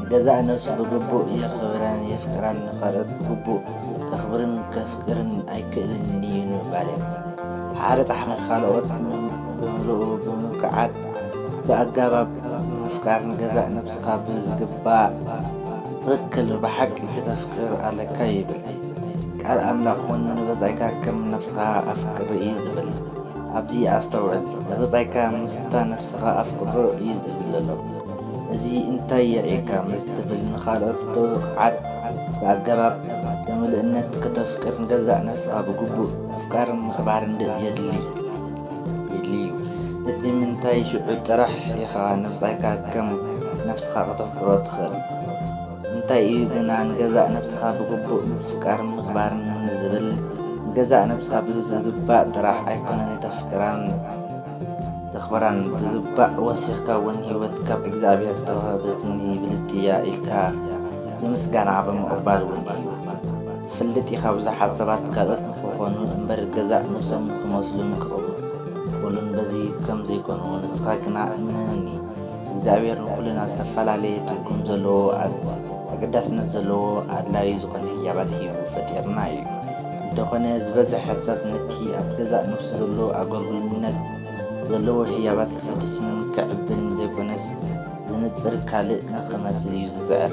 ንገዛእ ነብሱ ብግቡእ የኽብራን የፍቅራን፣ ንኻልኦት ብግቡእ ከኽብርን ከፍቅርን ኣይክእልን'ዩ ንምባል'ዮም። ሓደ ጸሓፊ ንኻልኦት ብምሉኡ ብምብቅዓት ብኣጋባብ ብምፍቃር ንገዛእ ነብስኻ ብዝግባእ ትኽክል ብሓቂ ክተፍቅር ኣለካ ይብል። ቃል ኣምላኽ ውን ንብጻይካ ከም ነብስኻ ኣፍቅር እዩ ዝብል። ኣብዚ ኣስተውዕል፣ ንብጻይካ ምስታ ነብስኻ ኣፍቅሮ እዩ ዝብል ዘሎ። እዚ እንታይ የርእየካ ምስ ትብል ንኻልኦት ብብቕዓት ብኣገባብ ብምልእነት ከተፍቅር ንገዛእ ነፍስኻ ብግቡእ ምፍቃርን ምኽባርን የድልይ'ዩ። እቲ ምንታይ ሽዑ ጥራሕ ኢኻ ንብጻይካ ከም ነፍስኻ ከተፍቅሮ ትኽእል። እንታይ እዩ ግና ንገዛእ ነፍስኻ ብግቡእ ምፍቃርን ምኽባርን ንዝብል ንገዛእ ነፍስኻ ብዝግባእ ጥራሕ ኣይኮነን እተፍቅራን፣ ክኽበራን ዝግባእ ወሲኽካ እውን ህይወት ካብ እግዚኣብሔር ዝተዋህበትኒ ብልጽቲ እያ ኢልካ ንምስጋና ብምቕባል እውን እዩ። ትፈልጥ ኢኻ ብዙሓት ሰባት ካልኦት ንክኾኑ እምበር ገዛእ ነብሶም ንክመስሉን ክቕበሉን በዚ ከም ዘይኮኑ ንስኻ ግና እመነኒ እግዚኣብሔር ንኹልና ዝተፈላለየ ትርጉም ዘለዎ ኣገዳስነት ዘለዎ ኣድላዩ ዝኾነ ህያባት ሂቡ ፈጢርና እዩ። እንተኾነ ዝበዘሐ ሰብ ነቲ ኣብቲ ገዛእ ነፍሱ ዘሎ ኣጎልጉልነት ዘለዎ ህያባት ክፍትስን ክዕብን ዘይኮነስ ዝንጽር ካልእ ንኽመስል እዩ ዝጽዕር።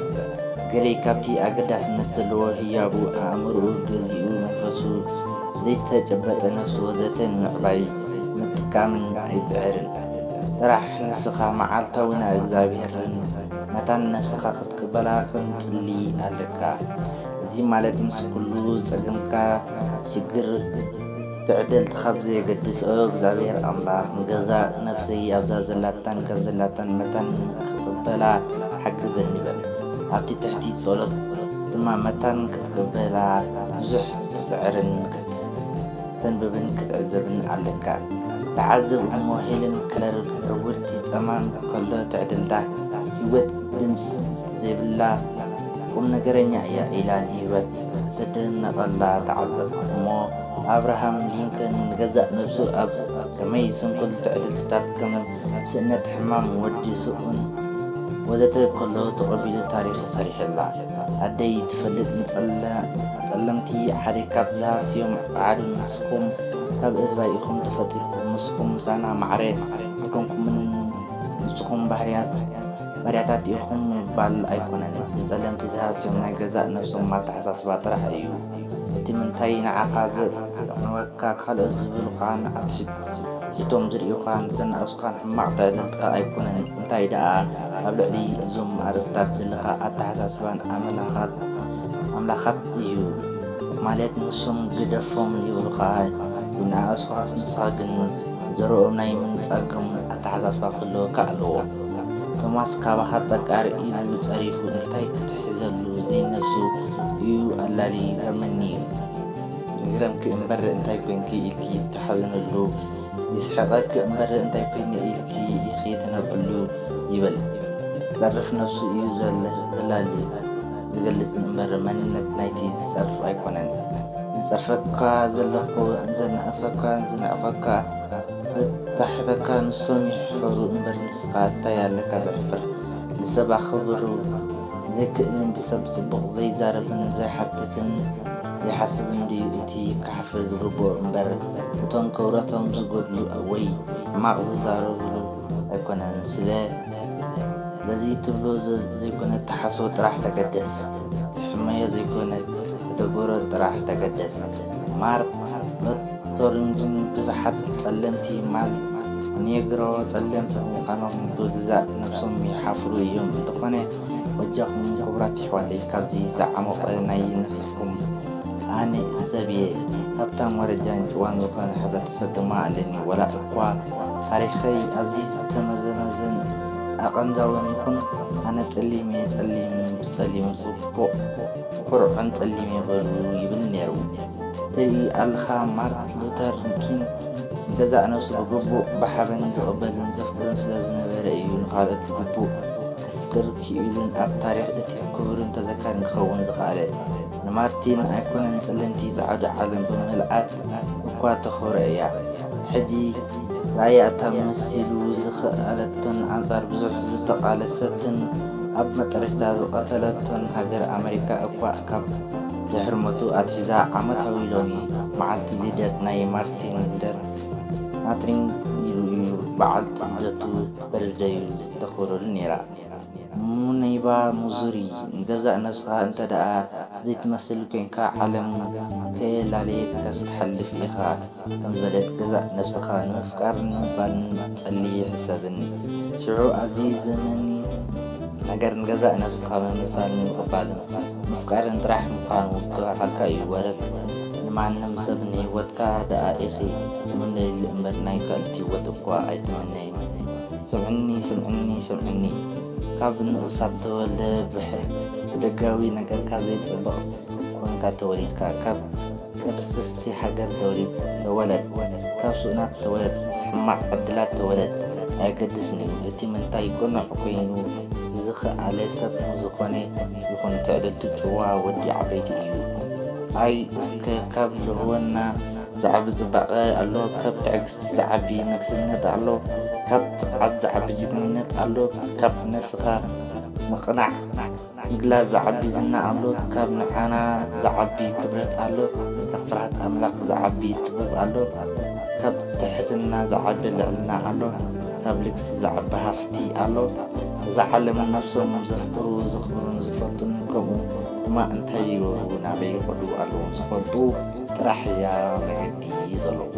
ገሌ ካብቲ ኣገዳስነት ዘለዎ ህያቡ ኣእምሮኡ ገዚኡ መንፈሱ፣ ዘይተጨበጠ ነፍሱ ወዘተ ንምዕባይ ምጥቃምን ኣይጽዕርን። ጥራሕ ንስኻ መዓልታዊ ናብ እግዚኣብሔርን መታን ነፍስኻ ክትቅበላ ከም ትጽሊ ኣለካ። እዚ ማለት ምስ ኩሉ ጸገምካ ሽግር ትዕደልቲ ካብ ዘየገድስ እግዚኣብሔር ኣምላኽ ንገዛእ ነፍሰይ ኣብዛ ዘላታን ከም ዘላታን መታን ክቕበላ ሓግዘኒ በል። ኣብቲ ትሕቲ ጸሎት ድማ መታን ክትቅበላ ብዙሕ ክትጽዕርን ከተንብብን ክትዕዘብን ኣለካ። ተዓዘብ እሞ ሄለን ክለር ዕውርቲ ጸማም ከሎ ትዕድልታ ህይወት ድምጽ ዘይብላ ቁምነገረኛ እያ ኢላ ንህይወት ክትድነቐላ ተዓዘብኩ። እሞ ኣብርሃም ሊንከን ንገዛእ ነብሱ ኣብ ከመይ ስንኩል ትዕድልትታት ከም ስእነት፣ ሕማም ወዲ ስኡን ወዘተ ከሎ ተቐቢሉ ታሪኽ ሰሪሑላ። ኣደይ ትፈልጥ ንጸለምቲ ሓደ ካብ ዝሃስዮም ጸዓዱ ንስኹም ካብ እህባይ ኢኹም ተፈጢርኩም ንስኹም ምሳና ማዕረ ኣይኮንኩምን ንስኹም ባህርያት ባርያታት ኢኹም ምባል ኣይኮነን፣ ንጸለምቲ ዝሃስዮም ናይ ገዛእ ነብሶም ኣተሓሳስባ ጥራሕ እዩ። እቲ ምንታይ ንዓኻ ዘየቕንወካ ካልኦት ዝብሉኻን ኣትሒቶም ዝርእዩኻን ዘናእሱኻን ሕማቕ ተዕልልታ ኣይኮነን፣ እንታይ ደኣ ኣብ ልዕሊ እዞም ኣርእስትታት ዘለካ ኣተሓሳስባን ኣመላኻት እዩ። ማለት ንሶም ግደፎም ይብሉኻ ይነኣእሱኻስ ንስኻ ግን ዘረኦም ናይ ምንጻጎም ኣተሓሳስባ ክህልወካ ኣለዎ። ቶማስ ካባኻ ጠቃር ኢሉ ጸሪፉ እንታይ ክትሕዘሉ ዘይነብሱ ኢዩ ኣላልዪ ይገርመኒ ኢዩ። ይግረምኪ እምበር እንታይ ኮንኪ ኢልኪ ትሓዝንሉ የስሕቐኪ እምበር እንታይ ኮይነ ኢልኪ ኢኺ ትነብዕሉ ይበል ዝጸርፍ ነብሱ ኢዩ ዘላሊ ዝገልጽ እምበር መንነት ናይቲ ዝጸርፍ ኣይኮነን። ዝጸርፈካ ዘለኹ ዘነኣእሰካ ዝነዕቐካ። ኣታሕተካ ንሶም ይሕፈሩ እምበር ንስኻ እታይ ኣለካ ዘሕፍር ንሰብ ኣኽብሩ ዘይክእልን ብሰብ ጽቡቕ ዘይዛረብን ዘይሓትትን ዘይሓስብን ድዩ እቲ ክሓፍር ዝግብኦ እምበር እቶም ክብረቶም ዝጎድሉ ወይ ሕማቕ ዝዛረብሉ ኣይኮነን ስለ ለዚ ትብሎ ዘይኮነ ትሓስቦ ጥራሕ ተገደስ ትሕመዮ ዘይኮነ ተተግብሮ ጥራሕ ተገደስ ማርት ቶሪንግን ብዝሓት ጸለምቲ ማል ኔግሮ ጸለምቲ ብምዃኖም ብግዛእ ነብሶም ይሓፍሩ እዮም። እንተኾነ በጃኹም ክቡራት ኣሕዋተይ ካብዚ ዝዓሞቐ ናይ ነፍስኹም ኣነ ሰብ እየ ሃብታም ወረጃን ጭዋን ዝኾነ ሕብረተሰብ ድማ ኣለኒ ወላ እኳ ታሪኸይ ኣዝዩ ዝተመዘመዘን ኣቐንዛዊን ይኹን ኣነ ጸሊም እየ ጸሊም ብጸሊሙ ጽቡቕ ኩርዑን ጸሊም እየ በሉ ይብል ኔሩ። ትርኢ ኣለኻ ማርት ሉተር ኪንግ ንገዛእ ነብሱ ብግቡእ ብሓበን ዝቕበልን ዘፍቅርን ስለ ዝነበረ እዩ ንኻልኦት ብግቡእ ከፍቅር ክኢሉን ኣብ ታሪኽ እቲ ክቡርን ተዘካርን ክኸውን ዝኸኣለ። ንማርቲን ኣይኮነን ጸለምቲ ጸዓዱ ዓለም ብምልኣት እኳ ተኽብሮ እያ። ሕጂ ርኣያ እታ መሲሉ ዝኸኣለቶን ኣንጻር ብዙሕ ዝተቓለሰትን ኣብ መጠረሽታ ዝቐተለቶን ሃገር ኣመሪካ እኳ ካብ ድሕሪ ሞቱ ኣትሒዛ ዓመታዊ ሎሚ መዓልቲ ልደት ናይ ማርቲን ሉተር ማትሪንግ ኢሉ እዩ በዓልቲ ልደቱ በርዝደዩ ዘተኽብረሉ ነይራ። ሙነይባ ሙዙሪ ንገዛእ ነብስኻ እንተደኣ ዘይትመስል ኮይንካ ዓለም ከየላለየት ከፍትሓልፍ ኢኻ። ከም ዘድልየት ገዛእ ነፍስኻ ንምፍቃርን ንምባልን ጸሊ ሕሰብን። ሽዑ ኣብዚ ዘመኒ ነገር ንገዛእ ነፍስኻ ምምሳልን ምቕባልን ምፍቃርን ጥራሕ ምዃኑ ክበርሃልካ እዩ። ወረግ ንማንም ሰብ ንህይወትካ ደኣ ኢኺ ትምነይሉ እምበር ናይ ካልኦት ህይወት እኳ ኣይትምነይን። ስምዕኒ ስምዕኒ ስምዕኒ ካብ ንኡሳት ተወልደ ብደጋዊ ነገርካ ዘይጸብቕ ኮንካ ተወሊድካ ካብ ቅርስስቲ ሃገር ተወሊድ ተወለድ ካብ ሱእናት ተወለድ ምስ ሕማቅ ዕድላት ተወለድ ኣየገድስን እዩ እቲ ምንታይ ቅኑዕ ኮይኑ ዝክኣለ ሰብ ዝኮነ ይኩን ትዕድልቱ ጭዋ ወዲ ዓበይቲ እዩ ኣይ እስከ ካብ ልእወና ዝዓቢ ጽባቀ ኣሎ ካብ ትዕግስቲ ዝዓቢ ንግስነት ኣሎ ካብ ትብዓት ዝዓቢ ጅግንነት ኣሎ ካብ ነብስካ ምቅናዕ ምግላጽ ዝዓቢ ዝና ኣሎት ካብ ንዓና ዝዓቢ ክብረት ኣሎት ካብ ፍርሃት ኣምላኽ ዝዓቢ ጥበብ ኣሎት ካብ ትሕትና ዝዓቢ ልዕልና ኣሎት ካብ ልግሲ ዝዓቢ ሃፍቲ ኣሎት እዛ ዓለምን ነብሶም ዘፍቅሩ ዘኽብሩን ዝፈቱን ከምኡ ድማ እንታይ ይገብሩ ናበይ ይኸዱ ኣለዎም ዝፈልጡ ጥራሕ እያ መገዲ ዘለዋ።